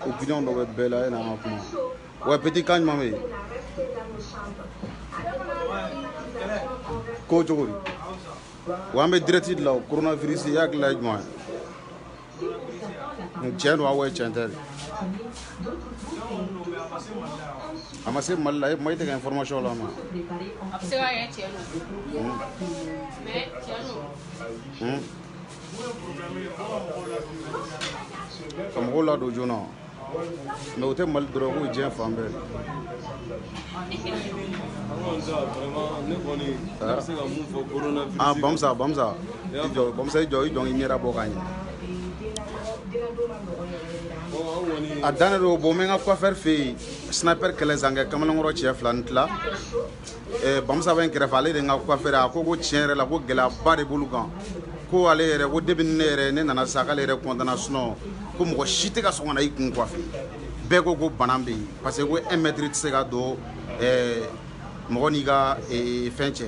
ko gidan dɔ bɛ bɛɛ la e n'an ka kuma wa peti kan ɲuman bɛ yen ko cogo di wa an bɛ direct de la o coronavirus i hakilila ye jumɛn ye tiɲɛ don aw ye tiɲɛ tɛ de a ma se mali la e ma i tɛ ka information lamɛn a bɛ se ka kɛ tiɲɛ don mais tiɲɛ don ka mɔgɔw ladon joona mais o tɛ mali dɔrɔn ko diɲɛ fan bɛɛ bamusa bamusa i jɔ bamusa i jɔ i jɔ i ɲɛda bɔ ka ɲɛ a dannen don bɔ n bɛ n ka coiffeur fɛ yen sniper kɛlɛ zankɛ kamalenkɔrɔ cɛ fila ni tila eh, bamusa bɛ n kɛrɛfɛ ale de n ka coiffeur a ko ko tiɲɛ yɛrɛ la ko gɛlɛyaba de b'olu kan ko ale yɛrɛ ko depuis ne yɛrɛ ne nana sa k'ale yɛrɛ kɔntanna sinon ko mɔgɔ si tɛ ka sɔn ka na i kun coiffe bɛɛ ko ko bana bɛ yen parce que ko un mètre tɛ se ka don eh, mɔgɔ n'i ka eh, fɛn cɛ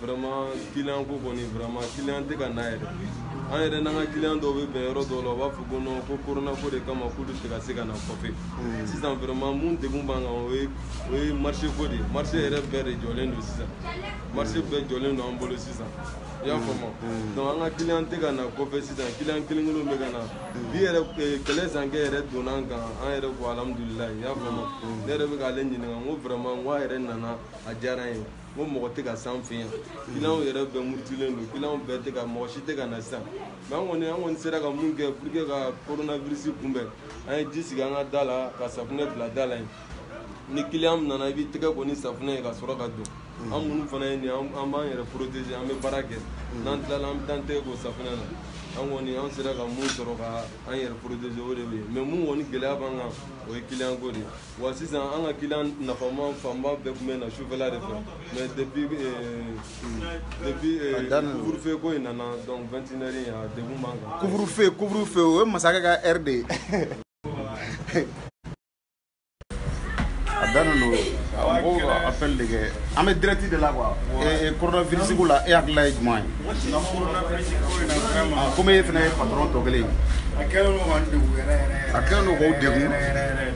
vraiment client ko kɔni vraiment client tɛ ka na yɛrɛ an yɛrɛ n'an ka client dɔw bɛ bɛn yɔrɔ dɔw la u b'a fɔ ko non ko corona ko de kama k'olu tɛ ka se ka na coiffer hmm. sisan vraiment min degun b'an kan o ye o ye marché ko de ye marché yɛrɛ bɛɛ de jɔlen don sisan marché bɛɛ jɔlen don an bolo sisan i y'a faamu hmm. donc an ka client tɛ ka na coiffer sisan client kelen kelenw bɛ ka na hmm. bi yɛrɛ eh, kɛlɛ zankɛ yɛrɛ donna an kan an yɛrɛ ko alhamdulilayi i y'a faamu ne yɛrɛ bɛ k'ale ɲininka n ko vraiment n ko a yɛrɛ nana a diyara n ye ko mɔgɔ tɛ ka san fɛ yan kiliyanw yɛrɛ bɛɛ murutilen don kiliyanw bɛɛ tɛ ka mɔgɔ si tɛ ka na sisan mais an kɔni an kɔni sera ka min kɛ pour que ka coronavirus kunbɛn an ye ji sigi an ka da la ka safunɛ bila da la yen ni kiliyan min nana i b'i tɛgɛ ko ni safunɛ ye ka sɔrɔ ka don an minnu fana ye nin an b'an yɛrɛ protege an bɛ baara kɛ n'an tilala an bɛ taa an tɛgɛ ko safunɛ na an kɔni an sera ka min sɔrɔ ka an yɛrɛ protege o de ye mais min kɔni gɛlɛya b'an kan o ye kiliyan ko de ye wa sisan an ka kiliyan nafama fanba bɛɛ tun bɛ na sufɛla de fɛ mais depuis depuis couvre-feu ko in nana donc 21 heures in a degun b'an kan couvre-feu couvre-feu o ye masakɛ ka heure de ye a dannen don mɔgɔw ka appel de kɛ an bɛ direct de la quoi coronavirus ko la e hakilila ye jumɛn ye komi e fana ye patron tɔ kelen ye a kɛlen don k'aw degun yɛrɛ yɛrɛ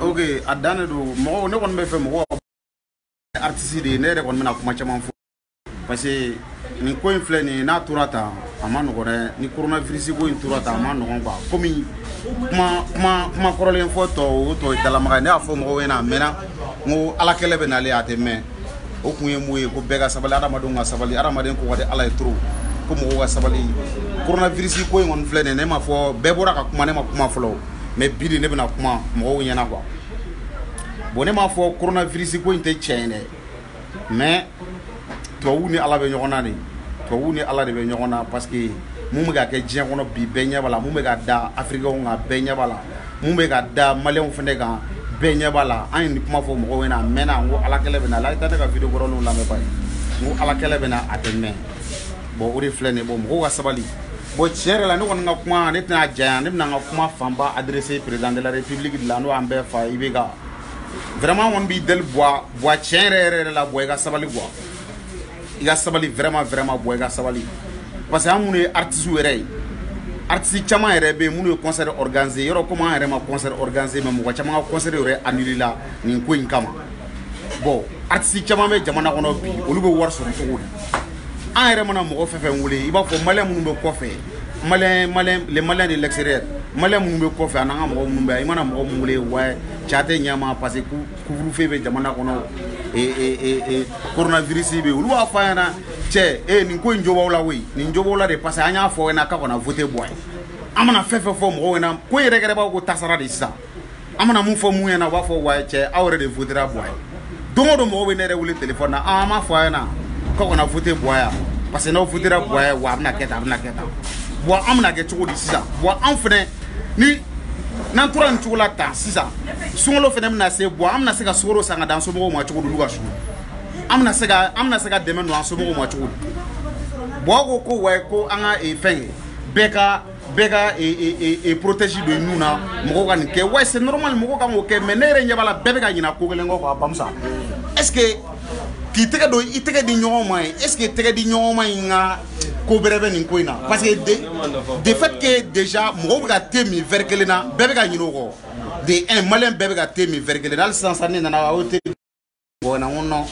ok a dannen don mɔgɔw ne kɔni bɛ fɛ mɔgɔw artiste de ye ne yɛrɛ kɔni bɛna kuma caman fɔ parce que nin ko in filɛ nin ye n'a tora tan a man nɔgɔn dɛ ni coronavirus ko in tora tan a man nɔgɔn quoi komi kuma kuma kuma kɔrɔlen fɔ tɔ o tɔ ye dalamaga ye ne y'a fɔ mɔgɔw ɲɛna a mɛnna n ko ala kɛlɛ bɛ n'ale a tɛ mɛn o kun ye mun ye ko bɛɛ ka sabali adamadenw ka sabali adamaden ko ka di ala ye trop ko mɔgɔw ka sabali koronavirisi ko in kɔni filɛ nin ne m'a fɔ bɛɛ bɔra ka kuma ne ma kuma fɔlɔ mais bi de ne bɛna kuma mɔgɔw ɲɛna quoi bon ne m'a fɔ koronavirisi ko in tɛ tiɲɛ ye dɛ mais tubabuw ni ala bɛ ɲɔgɔn na de tubabuw ni ala de bɛ ɲɔgɔn na parce que mun bɛ ka kɛ diɲɛ kɔnɔ bi bɛɛ ɲɛ b'a la mun bɛ ka da afirikɛnw kan bɛɛ ɲɛ b'a la mun bɛ ka da maliyɛnw fana kan bɛɛ ɲɛ b'a la an ye nin kuma fɔ mɔgɔw ɲɛna a mɛnna n ko ala kɛlɛ bɛ na aw ka taa ne ka video kɔrɔlenw lamɛn bani n ko ala kɛlɛ bɛ na a tɛ mɛn bon o de filɛ nin ye bon mɔgɔw ka sabali bon tiɲɛ yɛrɛ la ne kɔni ka kuma ne tɛna janya ne bɛna n ka kuma fanba adresser président de la république de la n'o y'an bɛɛ fa IBK vraiment an kɔni b'i deli Bua Bua tiɲɛ yɛrɛ yɛrɛ la Bua i ka sabali Bua i ka sabali vraiment vraiment Bua i ka sabali parce que an minnu ye artiste yɛrɛ ye artiste caman yɛrɛ bɛ yen minnu ye concert organiser yɔrɔ komi an yɛrɛ ma concert organiser mais mɔgɔ caman ka concert yɛrɛ annulé la nin ko in kama bon artiste caman bɛ jamana kɔnɔ bi olu bɛ wari sɔrɔ cogo di an yɛrɛ mana mɔgɔ fɛn fɛn wele i b'a fɔ maliyɛn minnu bɛ kɔfɛ maliyɛn maliyɛn les Maliens de l'extérieur maliyɛn minnu bɛ kɔfɛ ani an ka mɔgɔ minnu bɛ yan i mana mɔgɔ minnu wele wa cɛ a tɛ ɲɛ ma parce que couvre feu bɛ jamana kɔnɔ koronavirisi bɛ olu b'a fɔ an ɲɛna cɛ nin ko in jɔbaw la koyi nin jɔ la de parce que an y'a fɔ ɲɛna ka kana foyite bɔ ye an mana fɛn fɛn fɔ mɔgɔw ɲɛna ko yɛrɛkɛbaa ko tasara de sisan an mana min fɔ mun ɲɛna u b'a fɔ wa cɛ aw yɛrɛ de fu bɔ ye don don mɔgɔw bɛ ne yɛrɛ wele tele na an ma fɔ a ɲɛna ka kana foyite bɔ yan parce que n'aw fu bɔ wa a bɛna kɛ taa a bɛna kɛ taa wa an bɛna kɛ cogo di sisan wa an fana ni n'an tora nin cogo la tan sisan sunkalo fana bɛna se Bua an bɛna se ka sukaro san ka di an somɔgɔw ma cogo di olu ka sugu an bɛna se ka an bɛna se ka dɛmɛ don an somɔgɔw ma cogo di bon ko ko wa ko an ka eh, fɛn ye bɛɛ ka bɛɛ ka eh, eh, protège don i nun na mɔgɔw ka nin kɛ wa c'est normal mɔgɔw kan k'o kɛ mais ne yɛrɛ ɲɛ b'a la bɛɛ bɛ ka ɲinɛ ko kelen kɔ quoi bamusa est ce que k'i tɛgɛ don i tɛgɛ di ɲɔgɔn ma ye est ce que tɛgɛ di ɲɔgɔn ma in ka ko bɛrɛ bɛ nin ko in na parce que de fait que déjà mɔgɔw bɛ ka te min verre kelen na bɛɛ bɛ ka ɲinɛ o kɔ de un maliyɛn bɛɛ bɛ ka te min verre kelen na hali sisan sa ne nana o te bɔgɔ na n ko non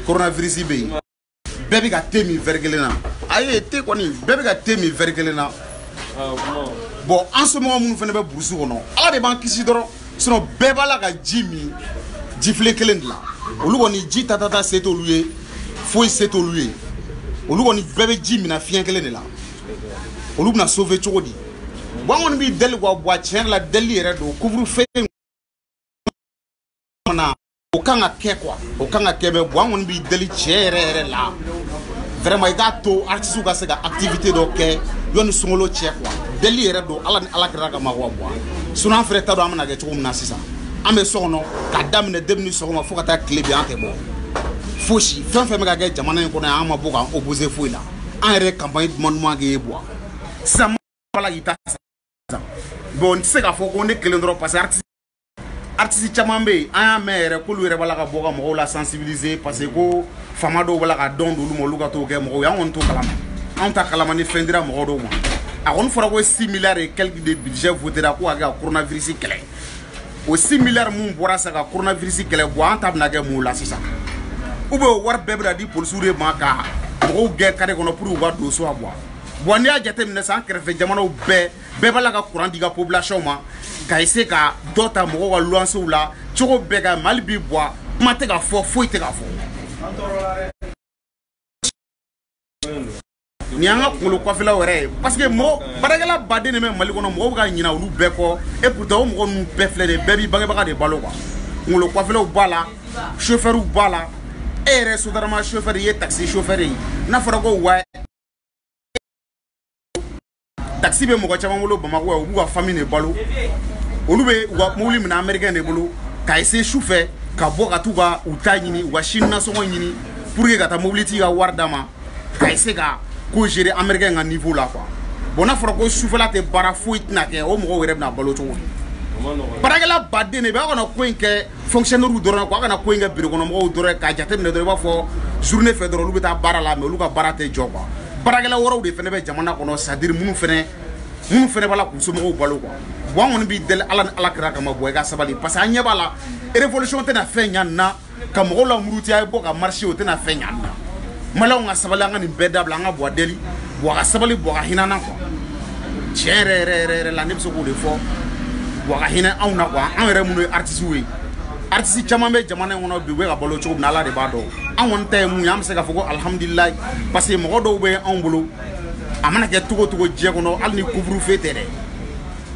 coronavirus bɛ yen bɛɛ bɛ ka te min verre kelen na a ye te kɔni bɛɛ bɛ ka te min verre kelen na bon an somɔgɔ minnu fana bɛ burusi kɔnɔ ala de b'an kisi dɔrɔn sinon bɛɛ b'a la ka ji min jifilen kelen de la olu kɔni ji tatata se t'olu ye foyi se t'olu ye olu kɔni bɛɛ bɛ ji min filen kelen de la olu bɛna sauver cogo di bon an kɔni b'i deli Bua tiɲɛ yɛrɛ la deli yɛrɛ don couvre feu in kɔnɔ o kan ka kɛ quoi o kan ka kɛ mais bon an kɔni b'i deli tiɲɛ yɛrɛ yɛrɛ la vraiment i k'a to artiste ka se ka activité dɔ kɛ yanni sunkalo cɛ quoi deli yɛrɛ don ala ni ala kira kama quoi bon sinon an fɛnɛ t'a dɔn an bɛna kɛ cogo min na sisan an bɛ so kɔnɔ ka daminɛ debini sɔgɔma fo ka taa tile bin an tɛ bɔ fosi fɛn fɛn bɛ ka kɛ jamana in kɔnɔ yan an ma bɔ k'an opposé foyi la an yɛrɛ campagne duman duman kɛ i ye buwa sisan b'a la k'i ta sisan bon n tɛ se k'a fɔ ko ne kelen dɔrɔn parce que artiste artiste caman bɛ yen an y'a mɛn yɛrɛ k'olu yɛrɛ b'a la ka bɔ ka mɔgɔw la sensibiliser parce que ko fama dɔw b'a la ka don d'olu ma olu ka t'o kɛ mɔgɔw ye an kɔni t'o kalama anw t'a kalama ni fɛn dira mɔgɔ dɔw ma a kɔni fɔra ko 6 milliards et quelques de budget votera ko ka kɛ ka coronavirus kɛlɛ o 6 milliards min bɔra sa ka coronavirus kɛlɛ buwa an ta bɛna kɛ mun la sisan ou bien o wari bɛɛ bɛna di polisiw de ma ka mɔgɔw gɛn kare kɔnɔ pour que u ka don so wa bon n'i y'a jateminɛ sisan an kɛrɛfɛ jamanaw bɛɛ bɛɛ b'a la ka kuran di u ka population ma ka ese ka dɔ ta mɔgɔw ka luwansew la cogo bɛɛ nka mali bi buwa kuma tɛ ka fɔ foyi tɛ ka fɔ nin y'an ka kunkolo kuwafelaw yɛrɛ ye parce que mɔgɔ baarakɛla baden de bɛ mali kɔnɔ mɔgɔw bɛ ka ɲina olu bɛɛ kɔ e pourtant o mɔgɔ ninnu bɛɛ filɛ de bɛɛ b'i bangebaga de balo quoi kunkolo kuwafelaw b'a la chauffeurw b'a la e yɛrɛ sotarama chauffeur i ye taxi chauffeur ye n'a fɔra ko wa taxi bɛ mɔgɔ caman bolo bamakɔ yan u b'u ka famille de balo olu bɛ u ka mobili minɛ américain de bolo ka ese su fɛ ka bɔ ka t'u ka u ta ɲini u ka sini nasɔngɔ ɲini pour que ka taa mobilitigi ka wari d'a ma ka ese ka ko gérer américain ka niveau la quoi bon n'a fɔra ko sufɛla tɛ baara foyi tɛna kɛ o mɔgɔw yɛrɛ bɛna balo cogo di baarakɛla baden de bɛ aw kana ko in kɛ fonctionnaires dɔrɔn ko a kana ko in kɛ bureau kɔnɔ mɔgɔw dɔrɔn k'a jateminɛ dɔrɔn i b'a fɔ journée fɛ dɔrɔn olu bɛ taa baara la mais olu ka baara tɛ jɔ quoi baarakɛla wɛrɛw de fana bɛ jamana kɔnɔ c'est à dire minnu fana minnu fana b'a la k'u somɔgɔw balo quoi bon an kɔni b'i deli ala ni ala kira kama buwa i ka sabali parce que an ɲɛ b'a la révolution tɛna fɛn ɲa nin na ka mɔgɔw lamuruti a ye bɔ ka marché o tɛna fɛn ɲa nin na maliyɛnw ka sabali an ka nin bɛɛ dabila an ka buwa deli buwa ka sabali buwa ka hinɛ an na quoi tiɲɛ yɛrɛ yɛrɛ yɛrɛ yɛrɛ la ne bɛ se k'o de fɔ buwa ka hinɛ anw na kuwa anw yɛrɛ minnu ye artisiw ye artisi caman bɛ jamana in kɔnɔ bi u bɛ ka balo cogo min na ala de b'a dɔn an kɔni ta ye mun ye an bɛ se k'a fɔ ko alihamudulilayi parce que mɔgɔ dɔw bɛ anw bolo a mana kɛ cogo cogo diɲɛ kɔnɔ hali ni kuburufe tɛ dɛ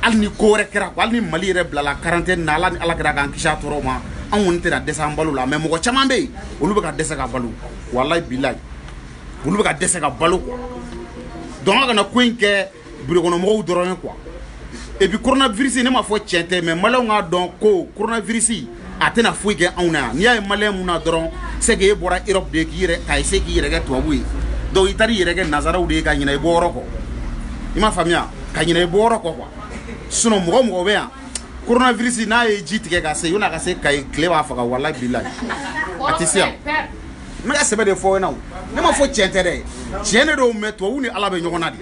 hali ni ko wɛrɛ kɛra hali ni mali yɛrɛ bilala karantɛni na ala ni ala kira k'an kisi a tɔɔrɔ ma an kɔni tɛna dɛsɛ an balo la mɛ mɔgɔ caman bɛ yen olu bɛ ka dɛsɛ ka balo walayi bilayi olu bɛ ka dɛsɛ ka balo quoi donc an kana ko in kɛ birokɔnɔmɔgɔw dɔrɔn ye quoi et puis coronavirus ne ma fɔ tiɲɛ tɛ mais maliyɛnw k'a dɔn ko coronavirus a tɛna foyi kɛ anw na yan n'i y'a ye maliyɛn min na dɔrɔn c'est que e bɔra europe de k'i yɛrɛ ka essayer k'i yɛrɛ kɛ tubabu ye donc i taara i yɛrɛ kɛ nazaraw de ye ka ɲinɛ i bɔ yɔrɔ kɔ i m'a faamuya ka ɲinɛ i bɔ yɔrɔ kɔ quoi sinon mɔgɔ mɔgɔ bɛ yan coronavirus n'a ye ji tigɛ ka se yanni a ka se kayi tile b'a faga walayi bilayi a tɛ se yan n bɛ ka sɛbɛ de fɔ ɲɛna ne ma fɔ cɛn tɛ dɛ cɛn de don mais tubabu ni ala bɛ ɲɔgɔn na de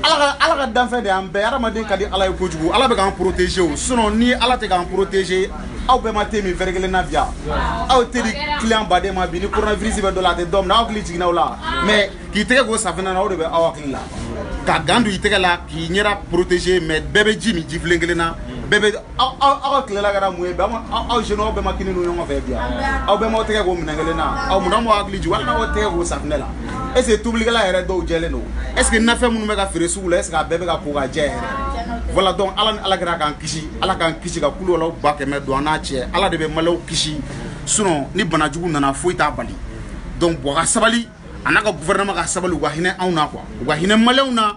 ala ka danfɛn de an bɛɛ adamaden ka di ala ye kojugu ala bɛ k'an protéger o sinon ni ala tɛ k'an protéger aw bɛɛ ma te min verre kelen na bi aw tɛ di client baden ma bi ni coronavirus bɛ dɔ la a tɛ dɔ minɛ aw hakili jiginna o la mais k'i tɛgɛ ko safinɛ na o de bɛ aw hakili la ka gant don i tɛgɛ la k'i ɲɛda protéger mais bɛɛ bɛ ji min jifilen kelen na bɛɛ bɛ aw ka tilela kɛra mun ye bi aw jeunes aw bɛɛ ma kini dun ɲɔgɔn fɛ bi aw bɛɛ m'aw tɛgɛ ko minɛn kelen na aw mun na m'aw hakili jigin walima aw tɛgɛ ko safinɛ la est ce que tobilikɛla yɛrɛ dɔw jɛlen don est ce que nafɛn minnu bɛ ka feere sugu la est ce que a bɛɛ bɛ ka ko ka jɛ yɛrɛ voilà donc ala ni ala kɛra k'an kisi ala k'an kisi ka kulu walaw ba kɛmɛ don an n'a cɛ ala de bɛ maliyɛnw kisi sinon ni bana jugu nana foyi t'a bali donc buwa ka sabali a n'a ka gouvernement ka sabali u ka hinɛ anw na quoi u ka hinɛ maliyɛnw na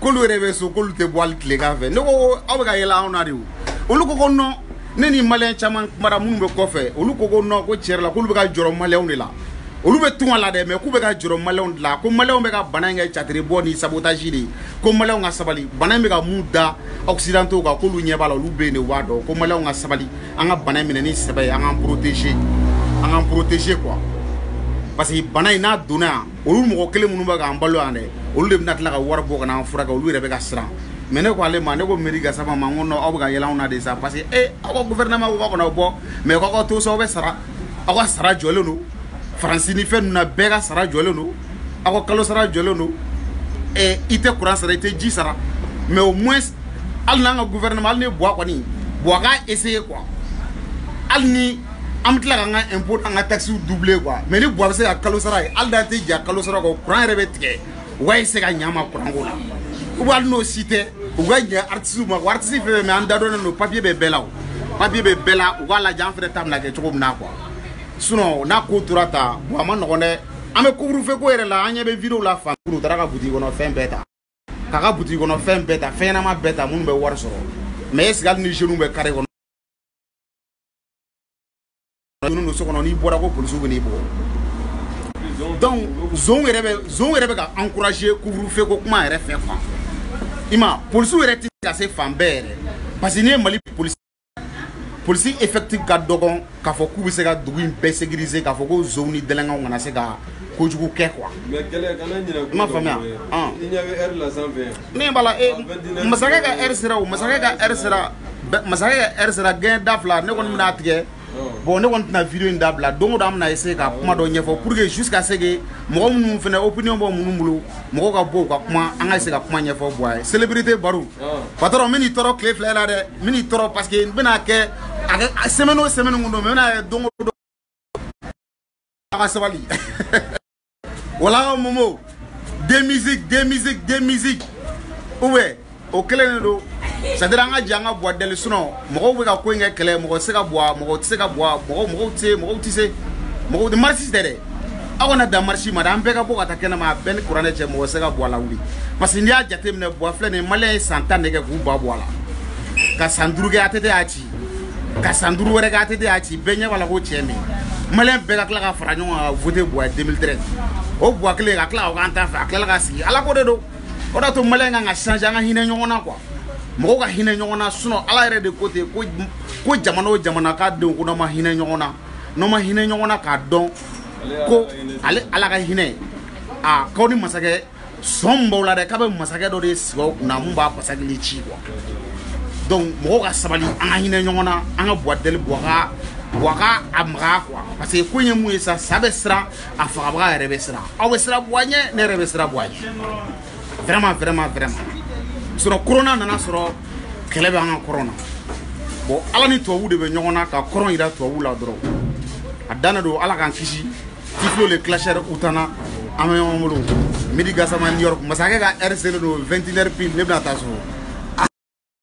k'olu yɛrɛ bɛ so k'olu tɛ bɔ hali tilegan fɛ ne ko aw bɛ ka yɛlɛ anw na de o olu ko ko non ne ni maliyɛn caman kumara minnu bɛ kɔfɛ olu ko ko non ko tiɲɛ yɛrɛ la k'olu bɛ ka jɔrɔ maliyɛnw de la olu bɛ tunga la dɛ mais k'u bɛ ka jɔrɔ maliyɛnw de la ko maliyɛnw bɛ ka bana in kɛ catiri bɔ ni sabotaji de ye ko maliyɛnw ka sabali bana in bɛ ka mun da occidentaux kan k'olu ɲɛ b'a la olu bɛ yen de u b'a dɔn ko maliyɛnw ka sabali an ka bana in minɛ ni sɛbɛ ye an k'an protéger an k'an protéger quoi parce que bana in n'a donna yan olu mɔgɔ kelen minnu bɛ k'an balo yan dɛ olu de bɛna tila ka wari bɔ ka n'an furakɛ olu yɛrɛ bɛ ka siran mais ne ko ale ma ne ko miiri gasama ma n ko non aw bɛ ka yɛlɛ anw na de sa parce que e aw ka gouvernement ko k'aw kana bɔ mais k'aw ka to so aw bɛ sara aw ka sara jɔlen don faransi ni fɛn ninnu na bɛɛ ka sara jɔlen don aw ka kalo sara jɔlen don ɛ i tɛ kuran sara i tɛ ji sara mais au moins hali n'an ka gouvernement hali ni buwa kɔni buwa k'a essayer quoi hali ni an bɛ tila ka an ka impôt n'an ka taxes doubler quoi mais ni Buwa bɛ se ka kalo sara ye hali n'an tɛ jɛn kalo sara kɔ courant yɛrɛ bɛ tigɛ u ka essayer ka ɲɛ an ma courant ko la ou bien hali n'o si tɛ u ka ɲɛ artistes ma quoi artiste fɛn fɛn bɛ yan da dɔnnen don papier bɛ bɛɛ la o papier bɛ bɛɛ la u k'a lajɛ an fɛnɛ ta bɛna kɛ cogo min na quoi sinon n'a ko tora tan bon a man nɔgɔn dɛ an bɛ couvre-feu ko yɛrɛ la an ɲɛ bɛ video la fan u taara ka butigi kɔnɔ fɛn bɛɛ ta k'a ka butigi kɔnɔ fɛn bɛɛ ta fɛn ɲɛnama bɛɛ ta minnu bɛ wari sɔrɔ mais est ce que hali ni jeunes bɛ carré kɔnɔ ninnu don so kɔnɔ n'i bɔra ko polisiw bɛn'i bugɔ donc zonw yɛrɛ bɛ zonw yɛrɛ bɛ ka encourager couvre-feu ko kuma yɛrɛ fɛ fan i ma polisiw yɛrɛ tɛ ka se fan bɛɛ yɛrɛ parce que n'i ye mali polisi polisi effectif ka dɔgɔn k'a fɔ k'u bɛ se ka dugu in bɛɛ sécuriser k'a fɔ ko zonw ni délinquantw kana se ka kojugu kɛ quoi i m'a faamuya min b'a la e masakɛ ka ɛri sera o masakɛ ka ɛri sera masakɛ ka ɛri sera gɛn da fila ne kɔni bɛna tigɛ bon ne kɔni tɛna vidéo in dabila don o don an bɛna essayer ka kuma dɔ ɲɛfɔ pour que jusqu'à ce que mɔgɔ minnu fana opinion bɛ minnu bolo mɔgɔw ka bɔ u ka kuma an ka essayer ka kuma ɲɛfɔ Buwa ye célébrité baro patron n bɛn'i tɔɔrɔ tile fila la dɛ n bɛn'i tɔɔrɔ parce que n bɛna kɛ a kɛ semaine o semaine tun don n bɛn'a kɛ don o don a ka sabali wala momo de musique de musique de musique ou bien o kelen de don c'est-à-dire an ka jɛ an ka Buwa deli sinon mɔgɔw bɛ ka ko in kɛ kɛlɛ mɔgɔ tɛ se ka bɔ mɔgɔ tɛ se ka bɔ mɔgɔw mɔgɔw tɛ se mɔgɔw tɛ se mɔgɔw marisi tɛ dɛ aw kana dan marisi ma dɛ an bɛɛ ka bɔ ka taa kɛnɛma a bɛɛ ni kuranɛ cɛ mɔgɔ tɛ se ka Buwa lawuli parce que n'i y'a jateminɛ Buwa filɛ nin ye maliyɛn ye san tan de kɛ k'u ban Buwa la ka san duuru kɛ ATT y'a ci ka san duuru wɛrɛ kɛ ATT y'a ci bɛɛ ɲɛ b'a la ko cɛ min maliyɛn bɛɛ ka tila ka fara ɲɔgɔn kan ka voter Buwa ye 2013 o Buwa kelen ka tila ka k'an ta fɛ a tilala ka sigi ala ko de don o de y'a to maliyɛn kan ka changer an ka hinɛ ɲɔgɔn na quoi mɔgɔw ka hinɛ ɲɔgɔn na sinon ala yɛrɛ de ko ten ko ko jamana o jamana k'a denw ko n'aw ma hinɛ ɲɔgɔn na n'aw ma hinɛ ɲɔgɔn na k'a dɔn ko ale ala ka hinɛ a k'aw ni masakɛ sɔn b'aw la dɛ k'a bɛ masakɛ dɔ de sigi aw kunna min b'a basakili ci quoi donc mɔgɔw ka sabali an ka hinɛ ɲɔgɔn na an ka Buwa deli Buwa ka Buwa ka a magaya quoi parce que ko in ye mun ye sa sa bɛ siran a fagabaga yɛrɛ bɛ siran aw bɛ siran Buwa ɲɛ ne yɛrɛ bɛ siran Buwa ɲɛ vraiment vraiment vraiment sinon korona nan'a sɔrɔ kɛlɛ bɛ an ka kɔrɔn na bon ala ni tubabuw de bɛ ɲɔgɔn na ka korona yira tubabuw la dɔrɔn a dan don ala k'an kisi tiflo le clasheur u tana an bɛ ɲɔgɔn bolo Medi Gasama New York masakɛ ka ɛri selen don 21 heures pile ne bɛna taa so